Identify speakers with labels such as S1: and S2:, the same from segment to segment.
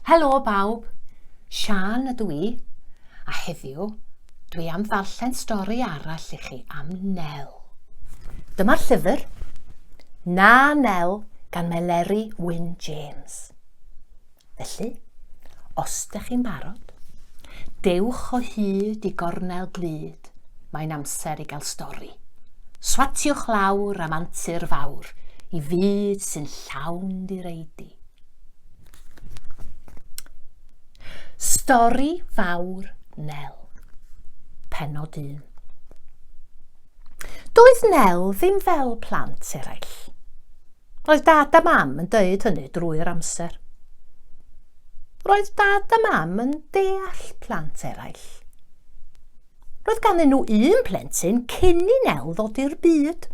S1: Helo bawb, Sian ydw i, a heddiw dwi am ddarllen stori arall i chi am Nel. Dyma'r llyfr, Na Nel gan Meleri Wyn James. Felly, os dych chi'n barod, dewch o hyd i gornel glyd, mae'n amser i gael stori. Swatiwch lawr am antur fawr i fyd sy'n llawn direidi. Stori fawr Nel. Penod 1. Doedd Nel ddim fel plant eraill. Roedd Dad a Mam yn deud hynny drwy'r amser. Roedd Dad a Mam yn deall plant eraill. Roedd ganddyn nhw un plentyn cyn i Nel ddod i'r byd.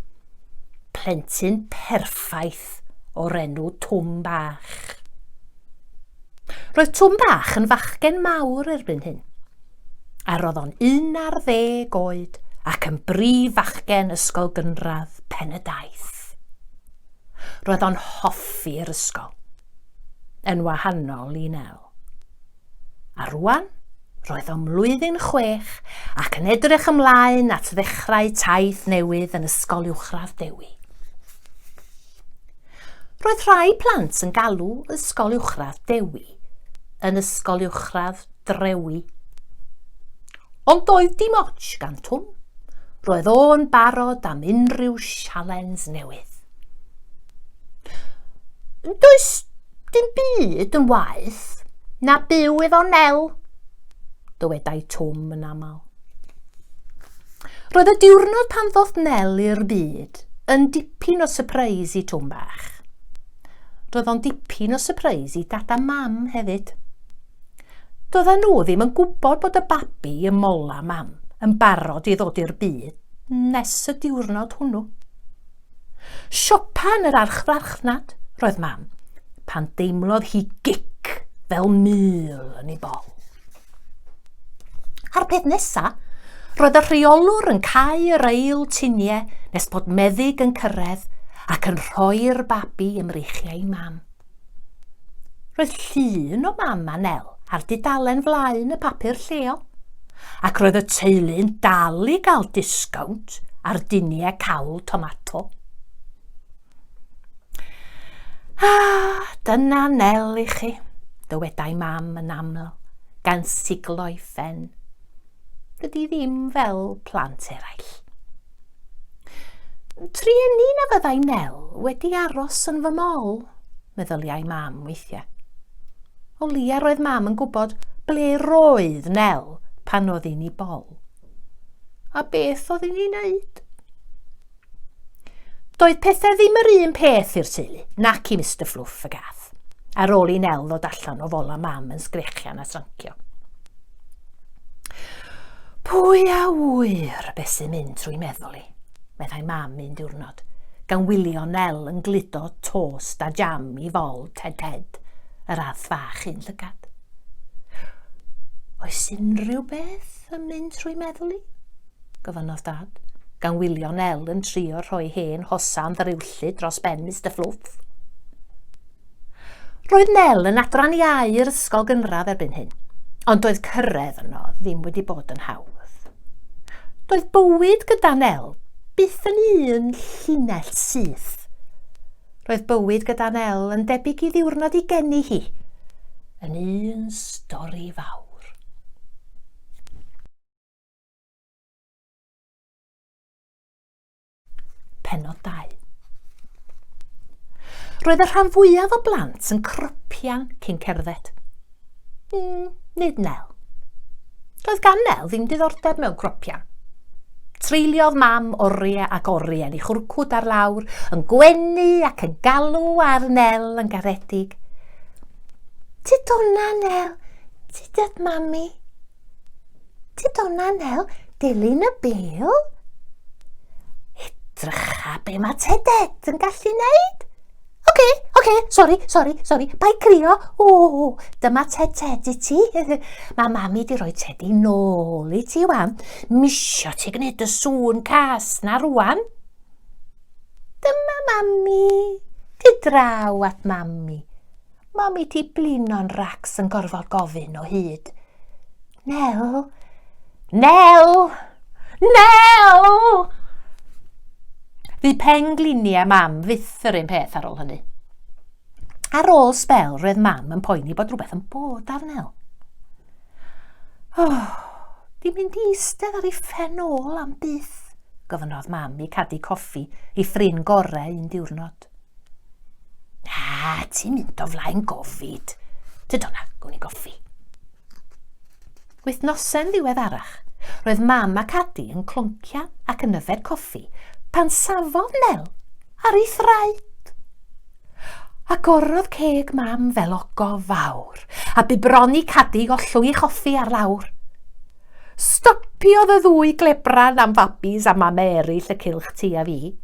S1: Plentyn perffaith o'r enw Twm Bach. Roedd Twm Bach yn fachgen mawr erbyn hyn. a roedd o'n un ar ddeg oed ac yn brif fachgen ysgol gynradd pen y daith. Roedd o'n hoffi'r ysgol, yn wahanol i Nel. A rwan, roedd o'n mlwyddyn chwech ac yn edrych ymlaen at ddechrau taith newydd yn Ysgol Uwchradd Dewi. Roedd rhai plant yn galw Ysgol Uwchradd Dewi yn Ysgol Uwchradd Drewi. Ond doedd dim ots gan Twm. Roedd o'n barod am unrhyw sialens newydd. Does dim byd yn waeth na byw efo Nel, dywedai Twm yn aml. Roedd y diwrnod pan ddoth Nel i'r byd yn dipyn o sypreis i Twm Bach. Roedd o'n dipyn o sypreis i dad a mam hefyd. Doedden nhw ddim yn gwybod bod y babi y mola mam yn barod i ddod i'r byd nes y diwrnod hwnnw. Siopa yn yr archfarchnad roedd mam, pan deimlodd hi gic fel mil yn ei bol. A'r peth nesa, roedd y rheolwr yn cael yr eil tuniau nes bod meddyg yn cyrraedd ac yn rhoi'r babi ymreichiau i mam. Roedd llun o mam a Nel ar dudalen flaen y papur lleol, ac roedd y teulu'n dal i gael disgownt ar diniau cawl tomato. A dyna Nel i chi, dywedai mam yn aml, gan siglo'i phen. Dydy ddim fel plant eraill. Trueni na fyddai Nel wedi aros yn fy mol, meddyliau mam weithiau. O lia roedd mam yn gwybod ble roedd Nel pan oedd i'n ei bol. A beth oedd i'n ei wneud? Doedd pethau ddim yr un peth i'r teulu, nac i Mr Fluff y gath, ar ôl i Nel ddod allan o fola mam yn sgrechian a srancio. Pwy a wyr beth sy'n mynd trwy meddwl i, meddai mam un diwrnod, gan wylio Nel yn gludo tost a jam i fol Ted Ted, yr arth fach un llygad. Oes unrhyw beth yn mynd trwy meddwl i? gofynnodd Dad, gan wylio Nel yn trio rhoi hen hosan ddaruwllyd dros ben Mister Fluff. Roedd Nel yn adran iau yr ysgol gynradd erbyn hyn, ond doedd cyrraedd yno ddim wedi bod yn hawdd. Doedd bywyd gyda Nel byth yn un llinell syth. Roedd bywyd gyda Nel yn debyg i ddiwrnod i geni hi, yn un stori fawr. Penod 2. Roedd y rhan fwyaf o blant yn crypian cyn cerdded. Mm, nid Nel. Doedd gan Nel ddim diddordeb mewn gropian. Treuliodd mam oriau ac oriau i chwrcwd ar lawr, yn gwenu ac yn galw ar Nel yn garedig. Ti donna, Nel, ti dad mami. Ti donna nel dilyn y bel? Edrycha be mae Tedet yn gallu neud. Oce, okay, oce, okay, sori, sori, sori, bai crio. O, dyma Ted Ted i ti. mae mami di roi Teddy nôl i ti wan. Misio ti gwneud y sŵn cas na rwan. Dyma mami. Di draw at mami. Mam i ti blino'n racs yn gorfod gofyn o hyd. Nel! Nel! Nel! Fu pen gliniau mam fyth yr un peth ar ôl hynny. Ar ôl spel, roedd mam yn poeni bod rhywbeth yn bod ar Nel. Oh, di mynd i eistedd ar ei phen ôl am byth, gofynodd mam i cadu coffi i ffrin gorau un diwrnod. Ah, ti'n mynd o flaen gofid. Tyd o'na, gwn i goffi. Wythnosen ddiweddarach, roedd mam ac adi yn cloncia ac yn yfed coffi pan safodd Nel ar ei thraed. Agorodd ceg mam fel ogof fawr a bibroni cadi ollwy choffi ar lawr. Stopiodd y ddwy glebran am fabis a mam eraill y cylch ti a fi,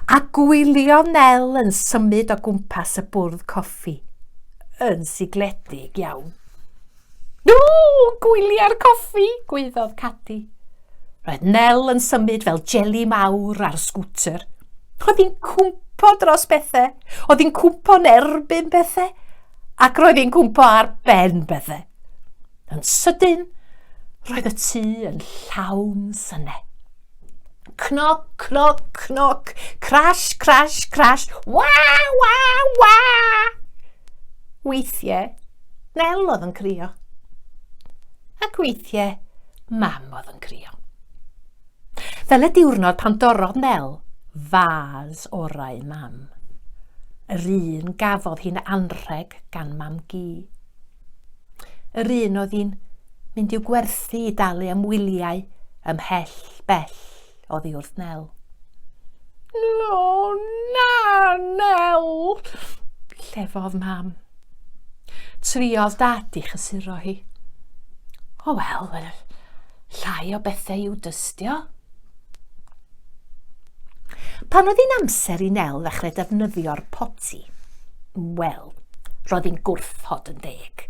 S1: a gwyliodd Nel yn symud o gwmpas y bwrdd coffi, yn sigledig iawn. No, gwyliau'r coffi, gwaeddodd Cadi. Roedd Nel yn symud fel jeli mawr ar sgwter. Oedd hi'n cwmpo dros bethau, oedd hi'n cwmpo yn erbyn bethau, ac roedd hi'n cwmpo ar ben bethau. Yn sydyn, roedd y tŷ yn llawn syne. Cnoc, cnoc, cnoc, crash, crash, crash, wa, wa, wa! Weithiau, Nel oedd yn crio. Ac weithiau, mam oedd yn crio. Fel y diwrnod pan dorrodd Nel fas orau mam. Yr un gafodd hi'n anrheg gan mam gi. Yr un oedd hi'n mynd i'w gwerthu i dalu am wyliau ymhell bell oddi wrth Nel. No, na, Nel! Llefodd mam. Triodd dad i chysuro hi. O wel, Llai o bethau i'w dystio. Pan oedd hi'n amser i Nel ddechrau defnyddio'r poti, wel, roedd hi'n gwrthod yn deg.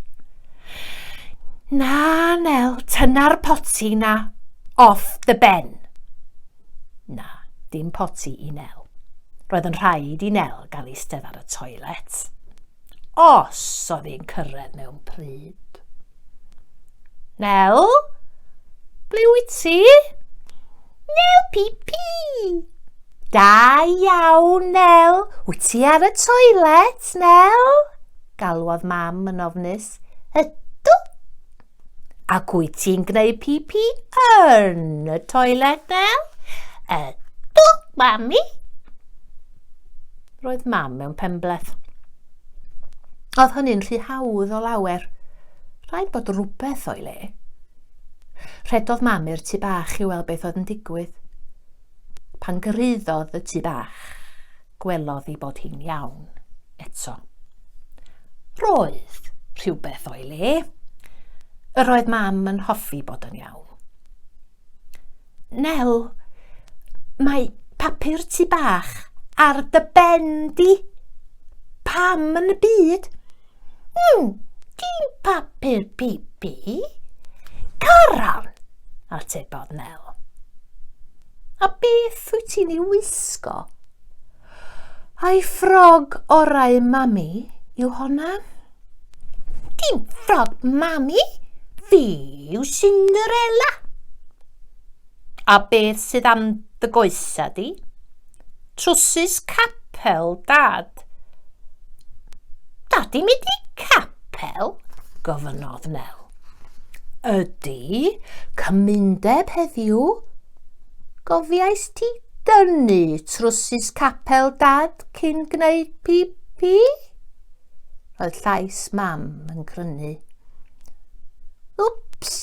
S1: Na, Nel, tyna'r poti na off the ben. Na, dim poti i Nel. Roedd yn rhaid i Nel gael eistedd ar y toilet. Os oedd hi'n cyrraedd mewn pryd. Nel? Ble wyt ti? Nel pipi! Da iawn, Nel. Wyt ti ar y toilet, Nel? Galwodd mam yn ofnus. Ydw. Ac wyt ti'n gwneud pipi yn y toilet, Nel? Ydw, mami. Roedd mam mewn penbleth. Oedd hynny'n rhy hawdd o lawer. Rhaid bod rhywbeth o'i le. Rhedodd mam i'r tu bach i weld beth oedd yn digwydd. Pan gyrhaeddodd y tu bach, gwelodd i bod hi'n iawn eto. Roedd rhywbeth o'i le. Yr oedd mam yn hoffi bod yn iawn. Nel, mae papur tu bach ar dy ben di. Pam yn y byd? Hmm, dim papur pipi. Caran, atebodd Nel. A beth wyt ti'n ei wisgo? Ai ffrog orau mami yw honna? Dim ffrog mami, fi yw Cinderella. A beth sydd am dy goesa di? Trwsus capel, dad. Dad i'n mynd i capel? gofynnodd Nel. Ydy, cymundeb heddiw. Gofiais ti Dynnu trwsus capel dad cyn gwneud pipi? Roedd llais mam yn grynu. Wps!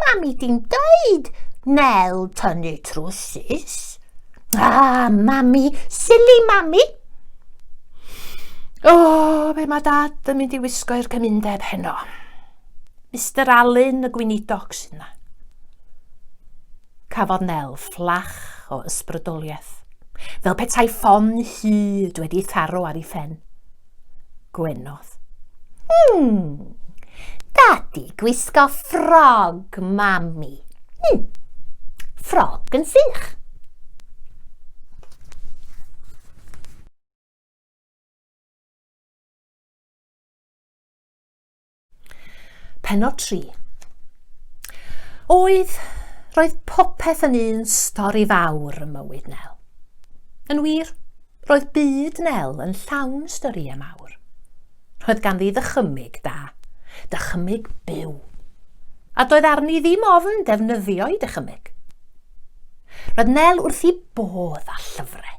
S1: Mami di'n dweud Nel tynnu trwsus. Ah, mami, silly mami! O, oh, be mae dad yn mynd i wisgo i'r cymundeb heno? Mr Alun y gweinidog sy'n na. Cafodd Nel fflach o ysbrydoliaeth, fel petai ffon hud wedi ei tharo ar ei phen. Gwenodd. Hmm, dadi gwisgo ffrog, mami. Hmm, ffrog yn sych. Penod 3. Oedd, roedd popeth yn un stori fawr ym mywyd Nel. Yn wir, roedd byd Nel yn llawn storïau mawr. Roedd ganddi ddychymyg da, dychymyg byw, a doedd arni ddim ofn defnyddio'i dychymyg. Roedd Nel wrth i bodd a llyfrau.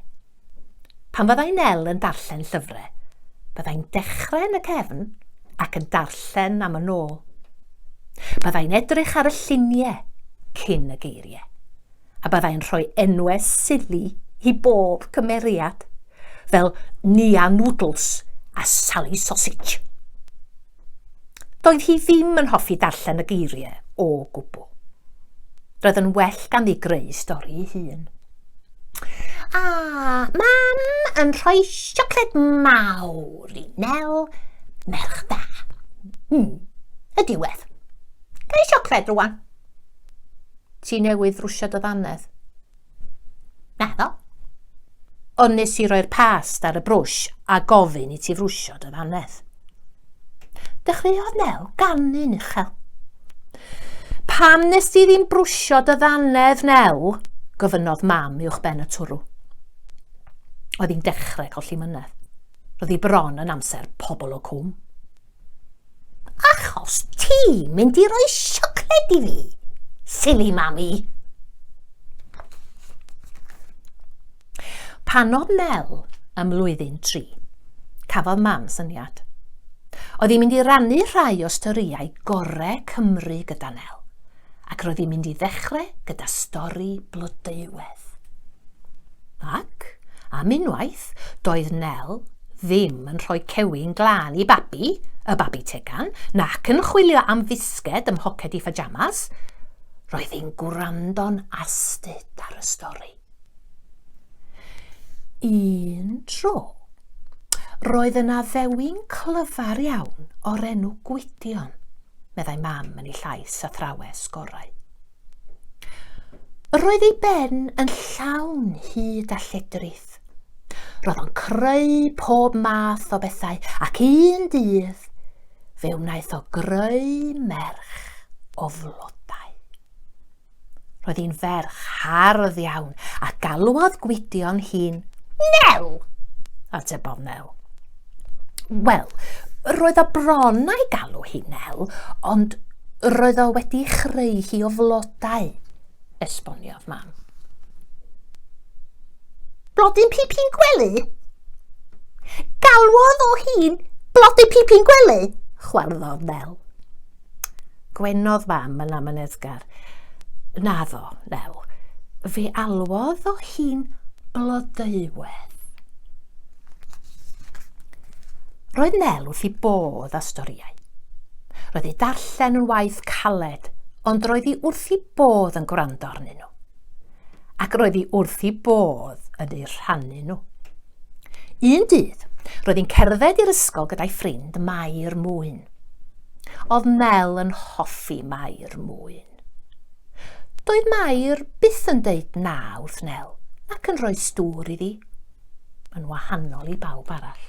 S1: Pan fyddai Nel yn darllen llyfrau, byddai'n dechrau yn y cefn ac yn darllen am yn ôl. Byddai'n edrych ar y lluniau cyn y geiriau, a byddai'n rhoi enwau sili i bob cymeriad, fel Nia Noodles a Sally Sausage. Doedd hi ddim yn hoffi darllen y geiriau o gwbl. Roedd yn well gan i greu stori ei hun. A mam yn rhoi siocled mawr i Nel, merch da. Hmm, y diwedd. Gael siocled rwan. Ti newydd rwsio dy ddannedd. Naddo. Ond nes i roi'r past ar y brwsh a gofyn i ti frwsio dy fanedd. Dechreuodd Nel ganu'n uchel. Pam nes ti ddim brwsio dy ddannedd, Nel? gofynnodd mam uwch ben y twrw. Oedd hi'n dechrau colli mynedd. Roedd hi bron yn amser pobl o cwm. Achos ti'n mynd i roi siocled i fi, silly mami. Pan oedd Nel ym mlwyddyn tri, cafodd mam syniad. Oedd hi'n mynd i rannu rhai o storïau gorau Cymru gyda Nel. ac roedd hi'n mynd i ddechrau gyda stori Blodeuwedd. Ac, am unwaith, doedd Nel ddim yn rhoi cewyn glân i babi, y babi tegan, nac yn chwilio am fisged ym mhoced i phajamas. Roedd hi'n gwrando'n astud ar y stori. Un tro, roedd yna ddewin clyfar iawn o'r enw Gwydion, meddai mam yn ei llais a thrawes gorau. Roedd ei ben yn llawn hyd a lledrith. Roedd o'n creu pob math o bethau ac un dydd fe wnaeth o greu merch o flodau. Roedd hi'n ferch hardd iawn a galwodd Gwydion hi'n Nel! Atebodd Nel. Wel, roedd o bron a'i galw hi Nel, ond roedd o wedi chreu hi o flodau, esboniodd mam. Blodyn pipin gwely? Galwodd o hi'n blodyn pipin gwely, chwarddodd Nel. Gwenodd mam yn amyneddgar. Naddo, Nel. Fe alwodd o hi'n blodeuwedd. Roedd Nel wrth i bodd a storïau. Roedd ei darllen yn waith caled, ond roedd hi wrth i bodd yn gwrando arnyn nhw. Ac roedd hi wrth i bodd yn eu rhannu nhw. Un dydd, roedd hi'n cerdded i'r ysgol gyda'i ffrind Mair Mwyn. Oedd Mel yn hoffi Mair Mwyn. Doedd Mair byth yn deud na wrth Nel ac yn rhoi stŵr iddi, yn wahanol i bawb arall.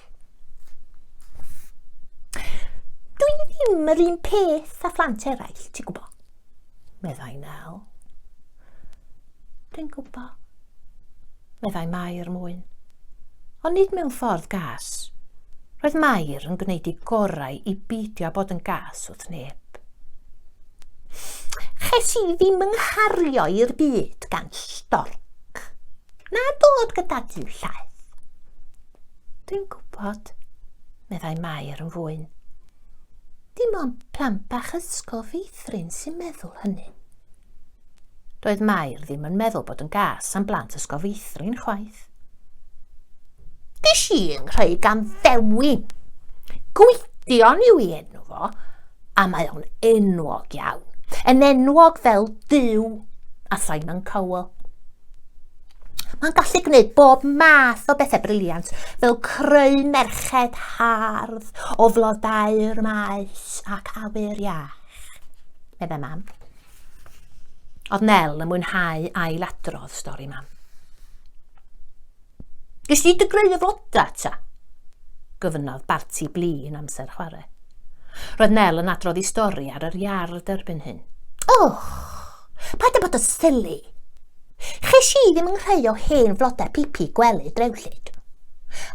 S1: Dwi ddim yr un peth a phlant eraill, ti'n gwybod. meddai Nel. Dwi'n gwbo, meddai Mair mwyn. Ond nid mewn ffordd gas. Roedd Mair yn gwneud ei gorau i beidio bod yn gas wrth neb. Ches i ddim yng nghario i'r byd gan storc. Na dod gyda ti llaeth. Dwi'n gwybod, meddai Mair yn fwyn. Dim ond plant bach ysgol feithrin sy'n meddwl hynny. Doedd Mair ddim yn meddwl bod yn gas am blant ysgol feithrin chwaith. Dis i yng nghreu gan ddewin. Gwydion yw i enw fo, a mae o'n enwog iawn. Yn enwog fel Dyw a Simon Cowell. Mae'n gallu gwneud bob math o bethau briliant, fel creu merched hardd o flodau'r maes ac awyr iach, meddai mam. Oedd Nel yn mwynhau ailadrodd stori mam. Gys di dy greu y floda ta? Gofynnodd Barti bli yn amser chwarae. Roedd Nel yn adrodd i stori ar yr iard erbyn hyn. Och! Paid â bod yn silly. Ches i ddim yn rhai o hen flodau pipi gwely drewllyd.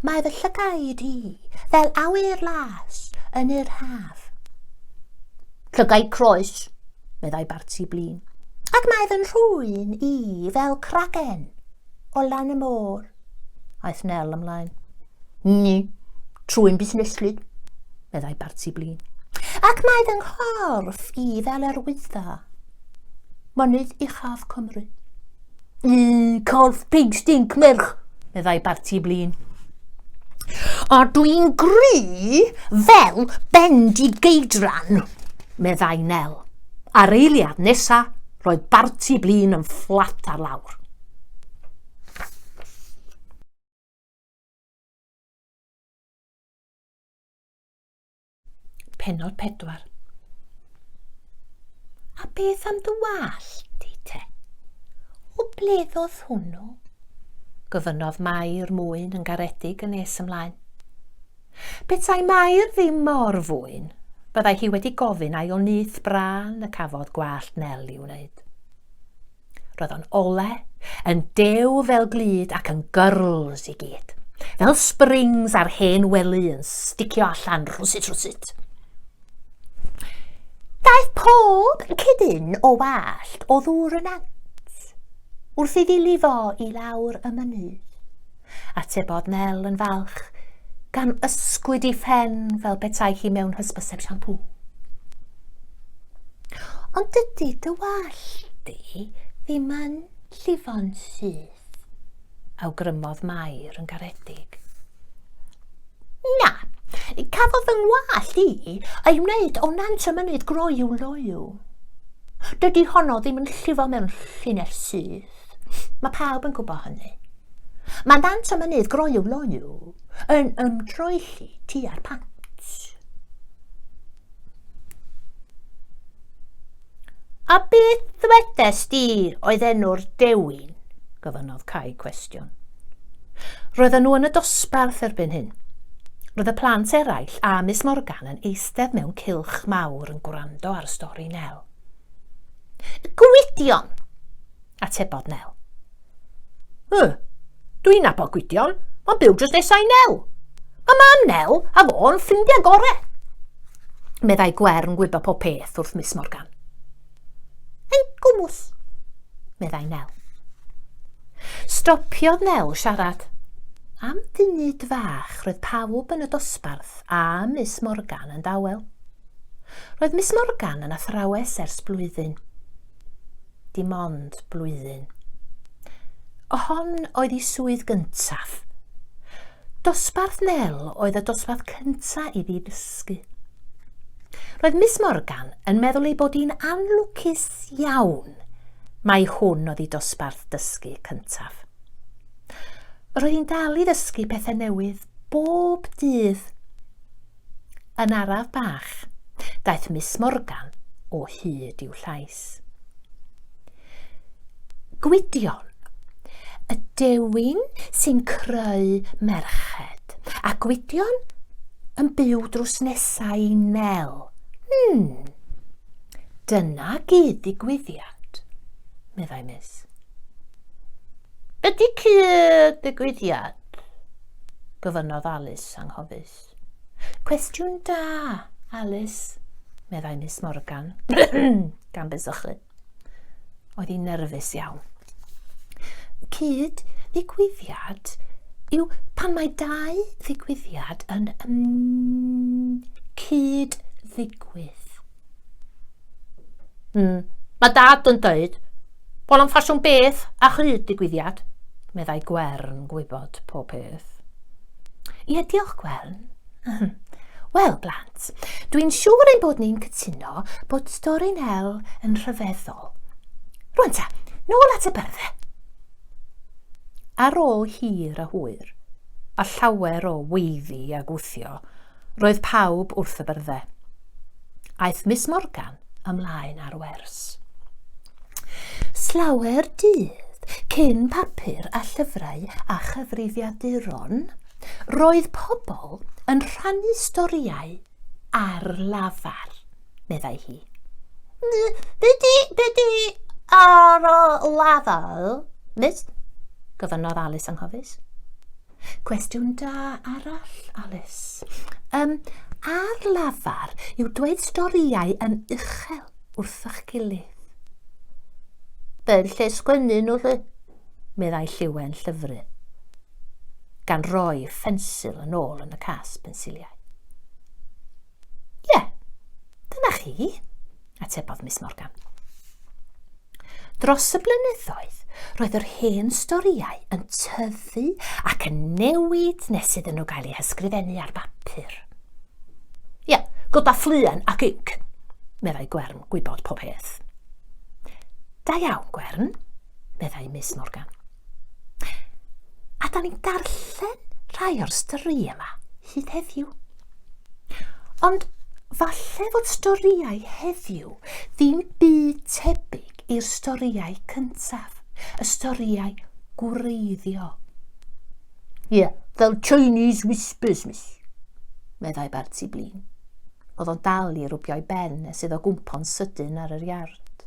S1: Mae fy llygaid i fel awyr las yn yr haf. Llygaid croes, meddai Barti blin. Ac mae fy nhrwyn i fel cragen o lan y môr. Aeth Nel ymlaen. Ni, trwy'n busneslu, meddai Barti Blin. Ac mae fy nghorff i fel yr wydda. Mynydd uchaf Cymru. Y corff pig stink merch, meddai Barti Blin. A dwi'n gry fel bendi geidran, meddai Nel. A'r eiliad nesa, roedd Barti Blin yn fflat ar lawr. Penod 4. A beth am dy wallt di te? O ble ddodd hwnnw? Gofynnodd Mair mwyn yn garedig yn nes ymlaen. Petai Mair ddim mor fwyn, byddai hi wedi gofyn ail nyth brân y cafodd gwallt Nel i wneud. Roedd o'n ole, yn dew fel glyd ac yn gyrls i gyd. Fel springs ar hen wely yn sticio allan rhwsut rhwsut. Daeth pob cydyn o wallt o ddŵr yn ant wrth iddi lifo i lawr y mynydd. Atebodd Nel yn falch, gan ysgwyd i phen fel petai hi mewn hysbyseb siampŵ. Ond dydy dy wallt di ddim yn llifo'n syth, awgrymodd Mair yn garedig. Na, cafodd fy ngwallt i ei wneud o nant y mynydd groyw loyw. Dydy honno ddim yn llifo mewn llinell syth. Mae pawb yn gwybod hynny. Mae dant y mynydd groyw loyw yn ymdroelli tua'r pant. A beth ddwedes di oedd enw'r dewin? gofynnodd Cai cwestiwn. Roedden nhw yn y dosbarth erbyn hyn. Roedd y plant eraill a Miss Morgan yn eistedd mewn cilch mawr yn gwrando ar y stori Nel. Y gwydion! Atebodd Nel. Y, dwi'n nabod gwydion, mae'n byw drws nesau i Nel. Mae mam Nel a fo'n ffrindiau gore. Meddai Gwern gwybod pob peth wrth Miss Morgan. Yn gwmws, meddai Nel. Stopiodd Nel siarad. Am funud fach roedd pawb yn y dosbarth a Miss Morgan yn dawel. Roedd Miss Morgan yn athrawes ers blwyddyn. Dim ond blwyddyn. O hon oedd ei swydd gyntaf. Dosbarth Nel oedd y dosbarth cyntaf i fi ddysgu. Roedd Miss Morgan yn meddwl ei bod hi'n anlwcus iawn mai hwn oedd ei dosbarth dysgu cyntaf. Roedd hi'n dal i ddysgu pethau newydd bob dydd. Yn araf bach, daeth Miss Morgan o hyd i'w llais. Gwydion, y dewin sy'n creu merched, a Gwydion yn byw drws nesau i Nel. Hmm, dyna gyd digwyddiad, meddai Miss. Ydy cyd digwyddiad? gofynnodd Alice anghofus. Ffled. Cwestiwn da, Alice, meddai Miss Morgan, gan besychu. Oedd hi'n nerfus iawn. Cyd ddigwyddiad yw pan mae dau ddigwyddiad yn cyd ddigwydd. Mm, mae dad yn dweud bod o'n ffasiwn beth a chryd digwyddiad, meddai Gwern gwybod pob peth. Ie, diolch Gwern. Wel, blant, dwi'n siŵr ein bod ni'n cytuno bod stori Nel yn rhyfeddol. Rwy'n ta, nôl at y byrddau. Ar ôl hir a hwyr, a llawer o weiddi a gwthio, Roedd pawb wrth y byrddau. Aeth Miss Morgan ymlaen ar wers. Slawer dydd cyn papur a llyfrau a chyfrifiaduron, roedd pobl yn rhannu storïau ar lafar, meddai hi. Byddi, byddi ar y lafar, miss? gofynnodd Alice anghofus. Cwestiwn da arall, Alice. Um, ar lafar yw dweud storïau yn uchel wrthych gilydd. Fel lle sgwennu nhw lle, meddai lliwen llyfru, gan roi ffensil yn ôl yn y cas pensiliau. Ie, yeah, dyna chi, atebodd Miss Morgan. Dros y blynyddoedd, roedd yr hen storïau yn tyfu ac yn newid nes iddyn nhw gael eu hysgrifennu ar bapur. Ie, yeah, gyda ffluen ac inc, meddai Gwern gwybod pob peth. Da iawn, Gwern, meddai Miss Morgan. A da ni'n darllen rhai o'r stori yma hyd heddiw. Ond falle fod storïau heddiw ddim byd tebyg i'r storïau cyntaf, y storïau gwreiddiol. Ie, yeah, fel Chinese Whispers, miss, meddai Barty Blin. Oedd o'n dal i rwbio'i ben nes iddo gwmpo'n sydyn ar yr iard.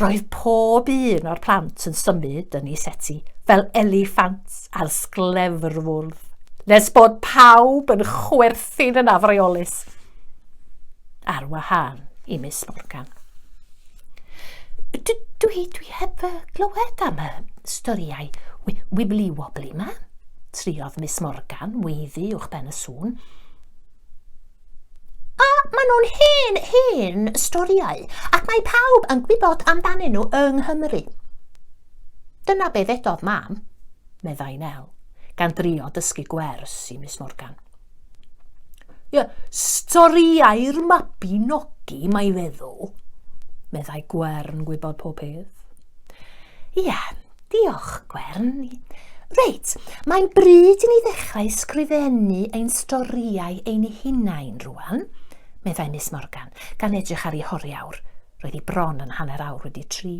S1: Roedd pob un o'r plant yn symud yn ei seti fel eliffant ar sglefrfwrdd, nes bod pawb yn chwerthin yn afreolus, ar wahân i Miss Morgan. Dwi, dwi, dwi heb y glywed am y storiau wibli wobli yma, triodd Miss Morgan weiddi uwch ben y sŵn. A maen nhw'n hen, hen storïau, ac mae pawb yn gwybod amdanyn nhw yng Nghymru. Dyna be ddedodd mam, meddai Nel, gan drio dysgu gwers i Miss Morgan. Ie, storïau'r mabinogi, mae feddwl, meddai Gwern gwybod pob peth. Ie, Diolch, Gwern. Reit, mae'n bryd i ni ddechrau sgrifennu ein storïau ein hunain rwan, meddai Miss Morgan, gan edrych ar ei horiawr. Roedd hi bron yn hanner awr wedi tri.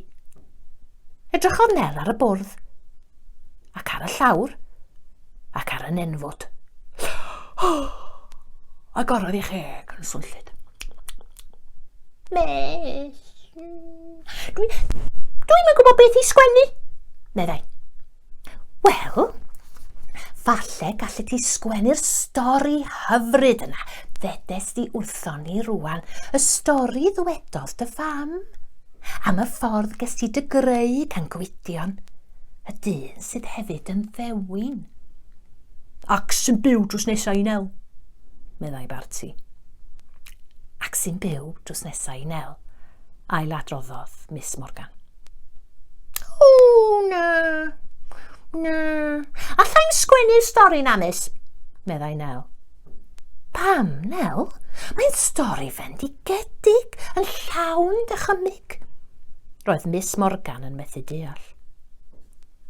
S1: Edrychodd Nel ar y bwrdd, ac ar y llawr, ac ar y nenfwd. Agorodd ei cheg yn swnllyd. Mes! Dwi, dwi'm yn gwybod beth i sgwennu, meddai. Wel, falle gallet ti sgwennu'r stori hyfryd yna, ddedes di wrthon ni rwan, y stori ddwedodd dy fam, am y ffordd ges ti dy greu gan gwydion, y dyn sydd hefyd yn ddewin. Ac sy'n byw drws nesau i nel, meddai Barty. Ac sy'n byw drws nesau i Nel, ailadroddodd Miss Morgan. O, na, na. Allai'n sgwennu'r stori na, Miss, meddai Nel. Pam, Nel? Mae'n stori fendigedig, yn llawn dychymyg. Roedd Miss Morgan yn methu deall.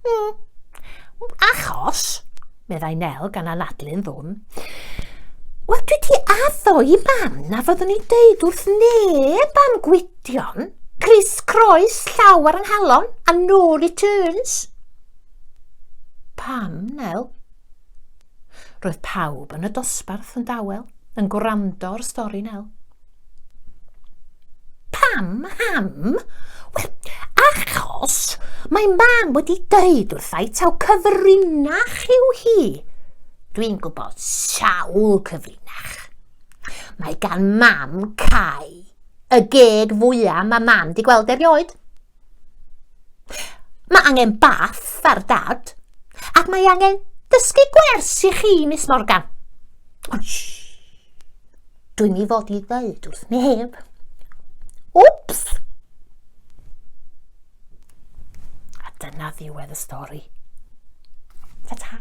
S1: Mm. Achos, meddai Nel gan anadlu'n ddwn, Wel, dwi di addo i mam na fyddwn i'n deud wrth neb am gwydion, Chris Croes, llaw ar ynghalon, a no returns. Pam, Nel? Roedd pawb yn y dosbarth yn dawel, yn gwrando ar stori Nel. Pam, ham? Wel, achos mae mam wedi dweud wrthai taw cyfrinach yw hi. Dwi'n gwybod sawl cyfrinach. Mae gan mam cae y geg fwyaf mae mam di gweld erioed. Mae angen bath ar dad, ac mae angen dysgu gwers i chi, Miss Morgan. Dwi'n i fod i ddeud wrth neb. Wps! A dyna ddiwedd y stori. Ta-ta!